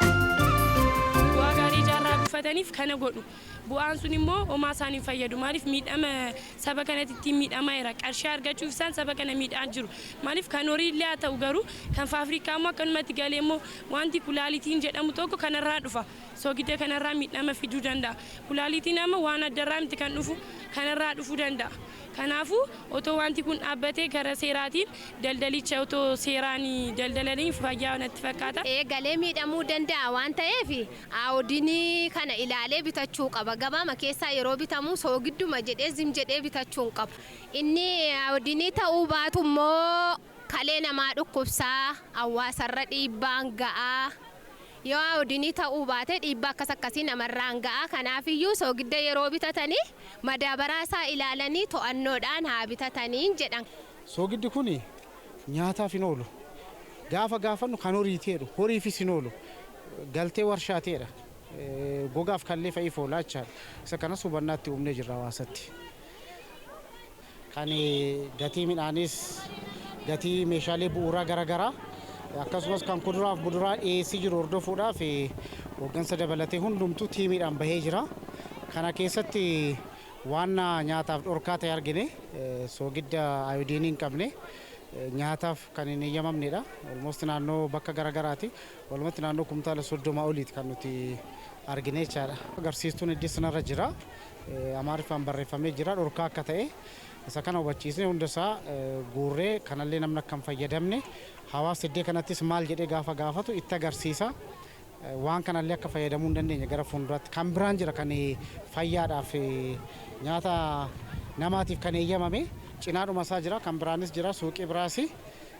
Bu'aa gaarii ijaa irraa buufataniif kana godhu. Bu'aan sun immoo homaa isaan hin fayyadu. Maaliif miidhama saba kanatti ittiin miidhamaa jira. Qarshii argachuuf isaan saba kana miidhaa jiru. Maaliif kan horii illee haa ta'u garuu kan faafrikaa immoo akkanumatti galee immoo wanti kulaalitiin jedhamu tokko kanarraa dhufa. Soogidda kanarraa miidhama fiduu danda'a. Kulaalitiin amma waan addarraa miti kan dhufu kanarraa dhufuu danda'a. Kanaafuu, otoo waanti kun dhaabbatee karaa seeraatiin daldalicha otoo seeraan daldalanii fayyaa natti fakkaata. eegalee miidhamuu danda'a waan ta'eef AODn kana ilaalee bitachuu qaba. Gabaama keessaa yeroo bitamu soogidduma jedhee zim jedhee bitachuu hin qabu. Inni AODn ta'uu baatu immoo kalee namaa dhukkubsa, hawwaasarra dhiibbaan ga'a. Yoo ayoodinii ta'uu baate dhiibbaa akkas akkasii namarraan ga'a. Kanaafiyyuu soogidda yeroo bitatani madaabaraa isaa ilaalanii to'annoodhaan haa bitataniin jedhan. Soogiddi kun nyaataaf hin oolu. Gaafa gaafannu kan horiiti jedhu. Horiifis hin oolu. Galtee warshaati jedha. Gogaaf kallee fa'iif oola jechaadha. Isa kanas hubannaa itti uumnee jirra hawaasatti. Kan gatii midhaaniis, gatii meeshaalee bu'uuraa garagaraa akkasumas kan kuduraaf muduraa dhiyeessii jiru hordofuudhaaf hooggansa dabalatee hundumtuu tiimiidhaan bahee jira. Kana keessatti waan nyaataaf dhorkaa ta'e argine soogidda ayoodiinii hin qabne nyaataaf kan hin eeyyamamnedha. Olmoost naannoo bakka garagaraati. Walumatti naannoo kumtaala 30 oliiti kan nuti argine jechaadha. Agarsiistuun heddiis narra jira. Amaariffaan barreeffamee jira dhorkaa akka ta'e isa kana hubachiisnee hunda isaa guurree kanallee namni akka hin fayyadamne hawaasni iddoo kanattis maal jedhee gaafa gaafatu itti agarsiisa. Waan kanallee akka fayyadamuu hin dandeenye gara fuulduraatti kan biraan jira kan fayyaadhaaf nyaata namaatiif kan eeyyamame cinaadhuma isaa jira kan biraanis jira suuqii biraas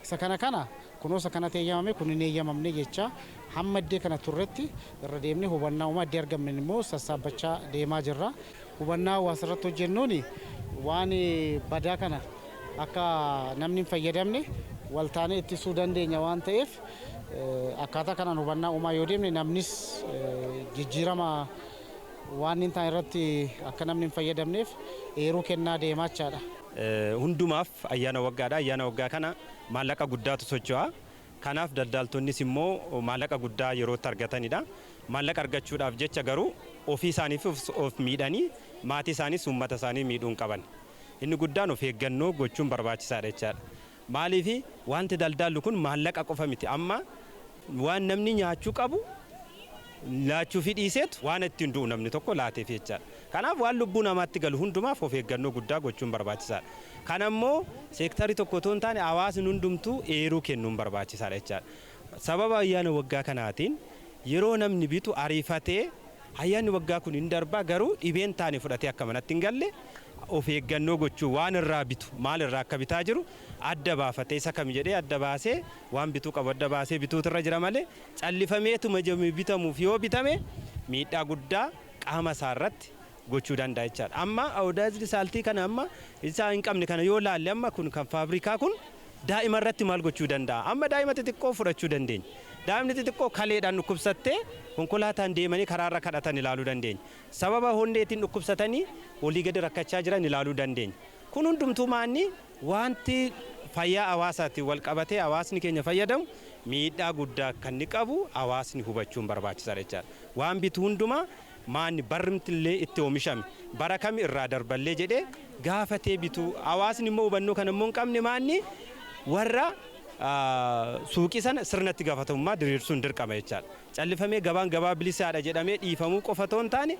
isa kana kana Kunuunsa kanatti eeyyamame, kun hin eeyyamamne jechaa hamma iddee kana turretti irra deemnee hubannaa uumaa iddee argamnen immoo sassaabbachaa deemaa jirra. Hubannaa hawaasa irratti hojjennuun waan badaa kana akka namni hin fayyadamne wal taanee ittisuu dandeenya waan ta'eef akkaataa kanaan hubannaa uumaa yoo deemne namnis jijjiirama waan hin taane irratti akka namni hin fayyadamneef eeruu kennaa deemaachaadha. Hundumaaf ayyaana waggaadha. Ayyaana waggaa kana Maallaqa guddaatu socho'a. Kanaaf daldaaltonnis immoo maallaqa guddaa yeroo itti argatanidha. Maallaqa argachuudhaaf jecha garuu ofii isaaniifis of miidhanii maatii isaaniis uummata isaanii miidhuu hin qaban. Inni guddaan of eeggannoo gochuun barbaachisaadha jechaadha. Maaliif waanti daldaallu kun maallaqa qofa miti. Amma waan namni nyaachuu qabu laachuufii dhiiseetu waan ittiin du'u namni tokko laateefii jechaadha. Kanaaf waan lubbuu namaatti galu hundumaaf of eeggannoo guddaa gochuun barbaachisaadha. Kana immoo seektarri tokko otoo hin taane hawaasni hundumtuu eeruu kennuun barbaachisaadha jechaadha. Sababa ayyaana waggaa kanaatiin yeroo namni bitu ariifatee ayyaanni waggaa kun hin darba garuu dhibee hin taane fudhatee akka manatti hin galle of eeggannoo gochuun waan irraa bitu maal irraa akka bitaa jiru adda baafatee isa kami jedhee adda baasee waan bituu qabu adda baasee bituutu irra jira malee callifameetuma jedhamee bitamuuf yoo bitame miidhaa guddaa qaama isaa irratti gochuu danda'a jechaadha. Amma iodized salt kana amma isaa hin qabne kana yoo laalle amma kun kan faabrikaa kun daa'ima irratti maal gochuu danda'a? Amma daa'ima xixiqqoo fudhachuu dandeenya. Daa'imni xixiqqoo kaleedhaan dhukkubsattee konkolaataan deemanii karaa irra kadhatan ilaaluu dandeenya. Sababa honneetiin dhukkubsatanii olii gadi rakkachaa jiran ilaaluu dandeenya. Kun hundumtuu maanni wanti fayyaa hawaasaatiin wal qabatee hawaasni keenya fayyadamu miidhaa guddaa akka inni qabu hawaasni hubachuun barbaachisaadha jechaadha. Waan bitu hundumaa maanni barrmtnllee itti oomishame bara kami irraa darballee jedhee gaafatee bitu. Hawaasni immoo hubannoo kana immoo hin qabne maanni warra suuqii sana sirna itti gafatamummaa diriirsuun dirqama jechaadha. Callifamee gabaan gabaa bilisaadha jedhamee dhiifamuu qofa otoo hin taane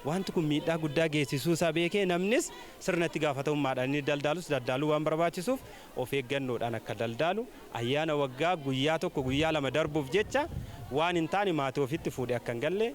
waanti kun miidhaa guddaa geessisuu isaa beekee namnis sirna itti gaafatamummaadhaan inni daldaalus daldaaluu waan barbaachisuuf of eeggannoodhaan akka daldaalu, ayyaana waggaa guyyaa tokko guyyaa lama darbuuf jecha waan hin taane maatii ofiitti fuudhee akka hin galle,